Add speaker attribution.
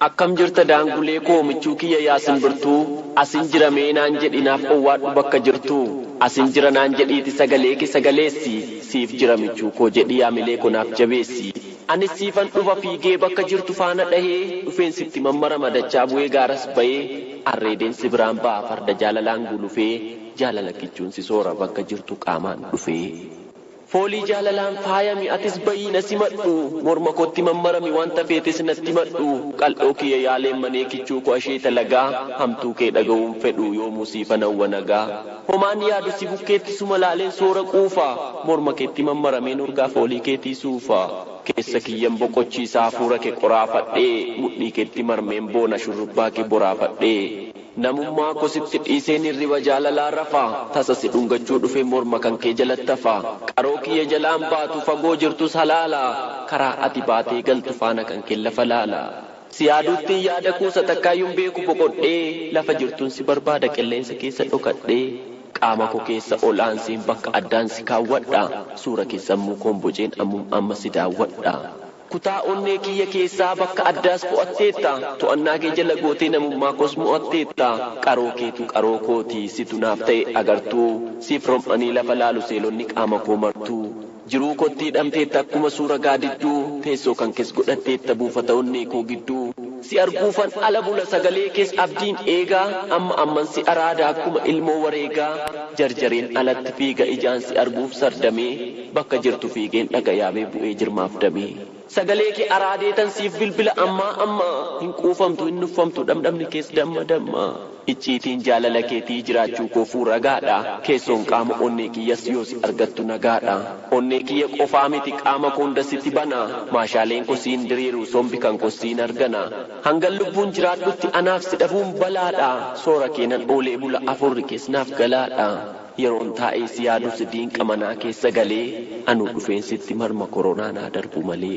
Speaker 1: Akkam jirta daangulee koo michuu kiyya yaa simbirtuu asin jira mee naan jedhi naaf owwaadhu bakka jirtu asin jira naan jedhiiti sagalee kee sagaleessi siif jira michuu koo jedhi yaamilee koo naaf jabeessi anis siifan dhufa fiigee bakka jirtu faana dhahee dhufeen sitti mammarama dachaa bu'ee gaaras ba'ee Arreedeen si biraan ba'a farda jaalalaan gulufee Jaalala kichuun si soora bakka jirtu qaamaan dhufee. Foolii jaalalaan faayami atis ba'ii na simadhu Morma kootti mammarami wanta feetes natti himadhu Qal'oo kiyya yaa leemmanee kichuu koo asheeta lagaa Hamtuu kee dhaga'uun fedhu yoomuu siifan hawwa nagaa Homaan yaadu si bukkeetti suma laaleen soora quufa Morma keetti mammarameen urgaa foolii keetii suufa. Keessa kiyyan boqochiisa hafuura ke qoraafadhee mudhii ketti marmeen boona shurrubbaa ke boraafadhee Namummaa ko sitti dhiiseen hirriba jaalalaa rafa Tasa si dhungachuu dhufe morma kan kee jalatti hafa Qaroo kiyya jalaan baatu fagoo jirtus halaala Karaa ati baatee galtu faana kan keen lafa laala Si yaaduuttin yaada kuusa takkaayyun beeku boqodhee Lafa jirtun si barbaada qilleensa keessa dhokadhee Qaama koo keessa ol aanseen bakka addaan si kaawwadha, suura kee sammuu koon boceen ammum amma si daawwadha. Kutaa onnee kiyya keessaa bakka addaas qo'atteetta, to'annaa kee jala gootee namummaa koos mo'atteetta. Qaroo keetu qaroo kooti, situ naaf ta'e agartuu, siif rom'anii lafa laalu seelonni qaama koo martuu. Jiruu kootti hidhamteetta akkuma suura gaadidduu Teessoo kan kees godhatteetta buufata onnee koo gidduu Si arguufan ala bula sagalee kees abdiin eegaa Amma amman si araada akkuma ilmoo wareegaa Jarjareen alatti fiiga ijaan si arguuf sardamee Bakka jirtu fiigeen dhaga yaabee bu'ee jirmaaf damee. Sagalee kee araadeetan siif bilbila ammaa ammaa Hin quufamtu hin nuffamtu dhamdhamni kees damma damma Icciitiin jaalala keetii jiraachuu koofuu ragaadha Keessoon qaama onnee kiyyas yoo si argattu nagaadha Onnee kiyya qofaa miti qaama koo hunda sitti bana Maashaaleen koo siin diriiru sombi kan koos siin argana Hangan lubbuun jiraadhutti anaaf si dhabuun balaadha Soora keenan oolee bula afurri kees naaf galaadha. Yeroon taa'ee si yaadus diinqa manaa keessa galee Anuu dhufeen sitti marma koronaa naa darbu malee.